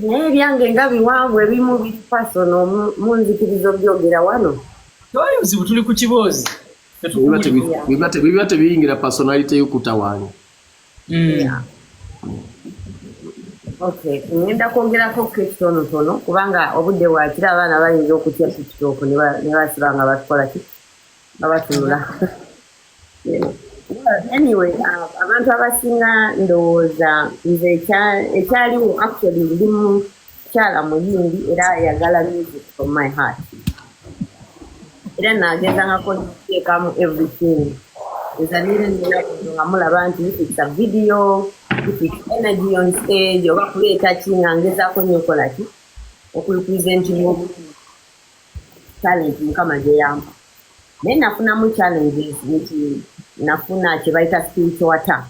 naye ebyange nga biwanvu ebimu biri pasono munzikiriza obyogera wano toli buzibu tuli ku kiboozi biba tebiyingira personality yokutawaanya hmm. ngenda kwogerako kekitonotono kubanga obudde bwakira abaana bayinza okutya tiktok nebasiba nga batukola ki nga batunula anyway uh, abantu abasinga ndowooza nze ekyaliwo actually ndi mukyala muyimbi era ayagala music from my heart era nagezangako nteekamu everything ezanire nga mulaba nti it's a video it's energy on stage oba kuleeta ki nga ngezaako nyokola ki okulipresenti talenti mukama gyeyamba naye nafunamu challenges nti nafuna kyebayita spiritual attack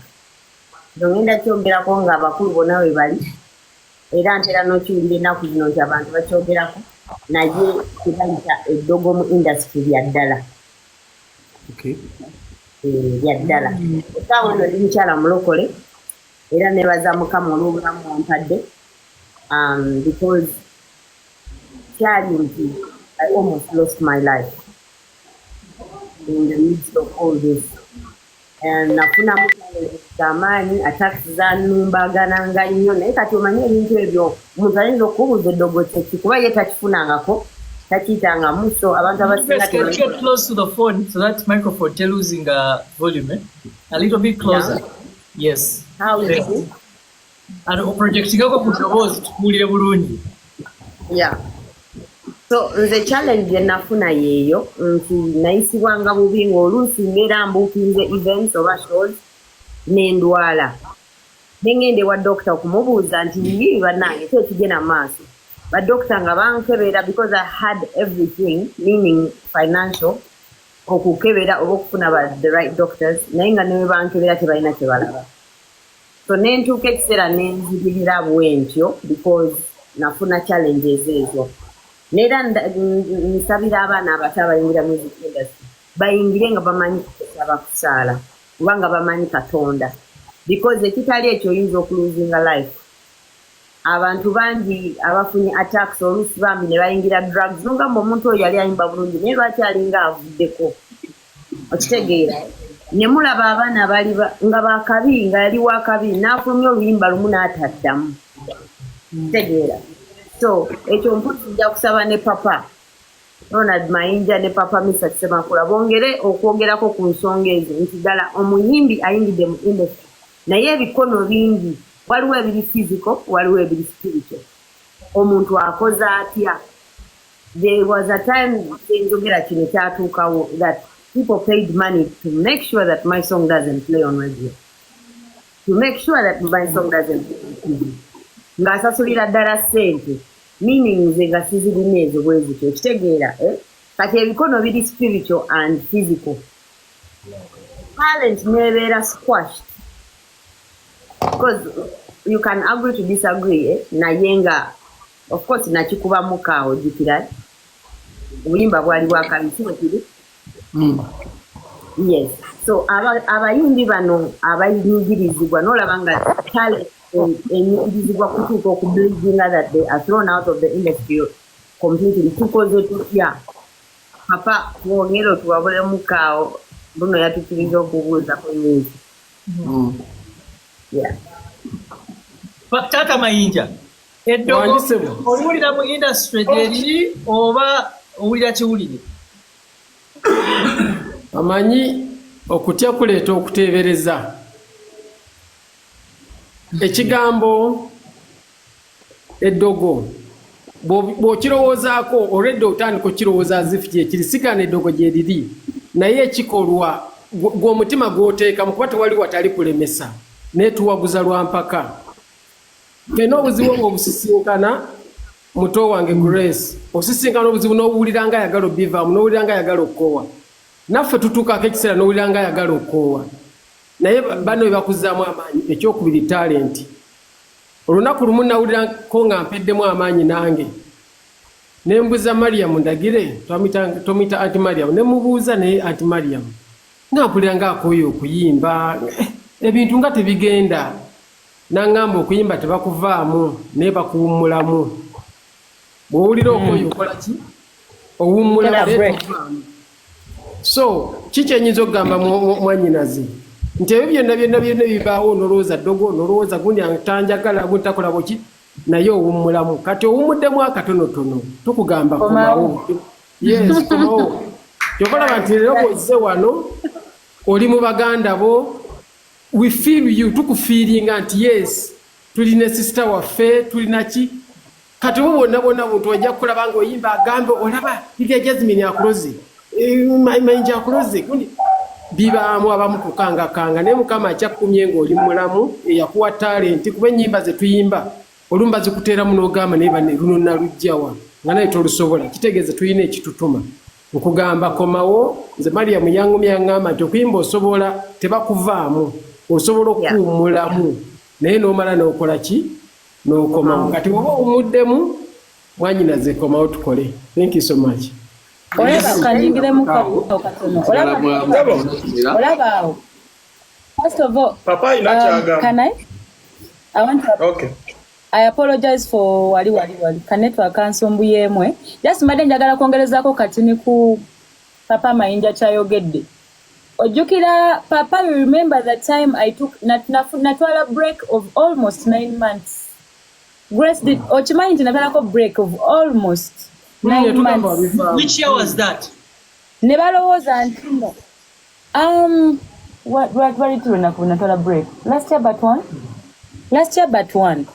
nongenda kyogerako nga abakulu bona webali era ntera nokiwulira ennaku zino nti abantu bakyogerako naye kibayita eddogo mu industry lyaddala eh, lyaddala esaawa no ndi mukyala mulokole era nebaza mukama olwobulamu ompadde um, because kyali nti I almost lost my life in the midst of all this and nafunamu amaanyi attacks zanumbagananga nnyo naye kati omanye ebintu ebyo omuntu ayinza okukubuuza eddogo kyeki kuba ye takifunangako takiyitangamu so abantu abasinga Ano oprojectingako ku ddoboozi tukuwulire bulungi. Ya. So nze challenge gye nafuna yeeyo nti nayisibwanga bubi ng'oluusi mbeera mbuukinze events oba shows n'endwala. Ne ng'enda ewa dokita okumubuuza nti biki bannange ki ekigenda mu maaso. Badokita nga bankebera because I had everything meaning financial okukebera oba okufuna ba the right doctors naye nga ne bwe bankebera tebalina kye balaba. so nentuuka ekiseera nenzibirira bwentyo because nafuna challenges ezo neera nsabira abaana abato abayingira music industry bayingire nga bamanyi kusaba kusaala kuba nga bamanyi katonda because ekitali ekyo oyinza okuluzinga life abantu bangi abafunye attacks oluusi bambi ne bayingira drugs nonga mbu omuntu oyo yali ayimba bulungi naye lwaki alinga avuddeko okitegeera ne mulaba abaana bali nga bakabi nga yali wakabi n'afulumya oluyimba lumu n'ataddamu okitegeera so ekyo mpozi nja kusaba ne papa ronald mayinja ne papa misa semakula bongere okwogerako ku nsonga ezo nti ddala omuyimbi ayingidde mu industry naye ebikono bingi waliwo ebiri fiziko waliwo ebiri sipirito omuntu akoze atya There was a time Njogera kino kyatuukawo that people paid money to make sure that my song doesn't play on radio. To make sure that my song doesn't play on TV. Ng'asasulira ddala ssente meaning nze nga sizirina ezo bwe zityo okitegeera eh? kati ebikono biri spiritual and physical talent neebeera squashed because you can agree to disagree eh? naye nga Of course nakikuba muka ojukira obuyimba bwali bwakabikiro kiri mm. yes so abayimbi bano abayingirizibwa nolaba nga tale enyingirizibwa kutuuka okubuildinga that they are thrown out of the industry completely tukoze tutya papa twongere otuwabule mukaawo buno yatukiriza okubuuza ku nyingi mm. taata mayinja Eddogo oliwulira mu industry gyeriri oba owulira kiwulire? Amanyi okutya kuleeta okuteebereza. Ekigambo eddogo bw'okirowoozaako olwedda otandika okukirowooza azifu kyekiri sigana eddogo gyeriri naye ekikolwa gw'omutima gw'oteekamu kuba tewali watali kulemesa naye tuwaguza lwa mpaka. Ffena obuzibu obwo obusisinkana muto wange Grace, osisinkana obuzibu n'owulira nga ayagala obbivaamu, n'owulira nga ayagala okukoowa. Naffe tutuukaako ekiseera n'owulira nga ayagala okukoowa. Naye banno bye bakuzzaamu amaanyi, ekyokubiri talenti. Olunaku lumu nawulirako nga mpeddemu amaanyi nange. Ne mbuza Mariam Ndagire, twamuyita Anti Mariam, ne mubuuza naye Anti Mariam nga mpulira nga akooye okuyimba, ebintu nga tebigenda. Nangamba okuyimba tebakuvaamu naye bakuwummulamu. Bw'owulira hmm. okoye okola ki? Owummulamu naye tokuvaamu. So ki kyenyinza okugamba mwanyinazi nti ebyo byonna byonna byonna bibaawo nolowooza ddogo nolowooza gundi tanjagala gundi takola bweki naye owummulamu kati owummuddemu akatonotono tukugamba komawo yes komawo kyokolaba nti leero bwozze wano oli mu baganda bo We feel you tukufiiringa nti yes tuli ne sisita waffe tulina ki kati oba bwonna bwonna buntu ojja kukulaba nga oyimba agambe olaba irya jasmine akuloze eh, mayinja akuloze gundi bibaamu abamu kukangakanga naye mukama akyakukumye ng'oli mulamu eyakuwa talenti kuba ennyimba ze tuyimba olumu bazikuteeramu n'ogamba naye bane luno nalujjawa nga naye tolusobola kitegeeza tulina ekitutuma Nkugamba komawo nze Mariam yangumya yangamba nti okuyimba osobola tebakuvaamu osobola okuwummulamu naye n'omala n'okola ki n'okomawo kati oba owumuddemu mwanyinaze komawo tukole thank you so much olaba kanyingiremu katono olaba awo first of all papa ina um, kyagamba can i i want to okay I apologize for wali wali wali kanetwa kansumbu yemwe just mbadde njagala kwongerezako katini ku papa mayinja kyayogedde ojjukira papa you remember the time i took natwala break of almost nine months grace did mm. okimanyi nti natwalako break of almost nine months which year was that ne balowooza ntino Um, lwali tulwenaku natwala break last year but one last year but one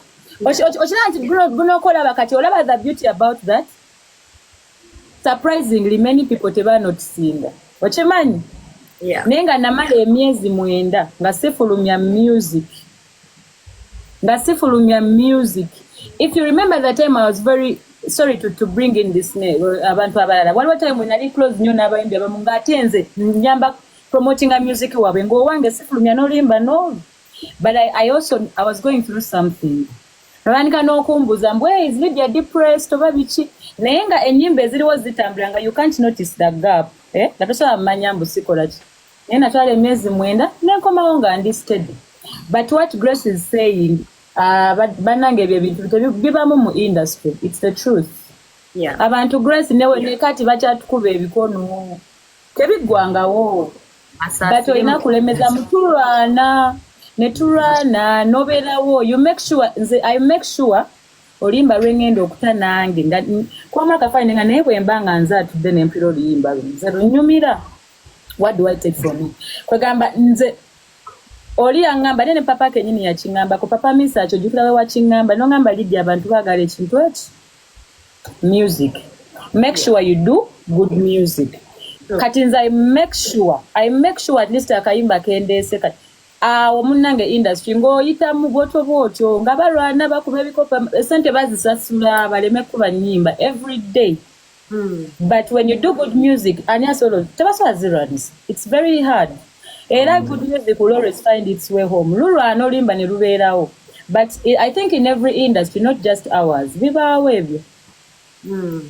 okiraba nti gunooka olaba kati olaba the beauty about that surprisingly many people tebanotisinga okimanyi naye nga namala emyezi mwenda nga sifulumya music nga sifulumya music if you remember the time i was very sorry to, to bring in this name uh, abantu abalala waliwo time we nali close nyo n'abayimbi abamu ng'ate nze njamba promotinga music waabwe ng'owange sifulumya n'olimba no but I, i also i was going through something nolwanika n'okumbuza mbu hey, is lydia depressed oba biki naye nga ennyimba eziriwo zitambula nga you can't notice the gap eh? nga tosobola mumanya mbu sikola ki naye natwala emyezi mwenda nenkomawo nga ndi steady but what grace is saying uh, banange ebyo ebintu bibamu mu industry its the truth yeah. abantu grace newe yeah. nekati bakyatukuba ebikono tebiggwangawo but olina kulemeza mutulwana netulwana noberawo you make sure nze i make sure olimba lwengenda okuta nange nga kwamakafaine nga naye bwemba nga nze atudde nempira oluyimba lwe nze lunyumira what do I take from it kwegamba nze oli yangamba nene papa kenyini yakingamba ko papa misa acho jukira we wakingamba no ngamba lidi abantu bagala ekintu eki music make sure you do good music kati nze i make sure i make sure at least akayimba kendese kati awo munange industry ng'oyitamu bwotyo bwotyo nga balwana bakuba ebikopa esente bazisasula baleme kuba nyimba every day Hmm. but when you do good music ani asobola tebasobola zirwanisa its very hard era hmm. good music will always find its way home lulwana olimba ne lubeerawo but i think in every industry not just ours bibaawo ebyo hmm.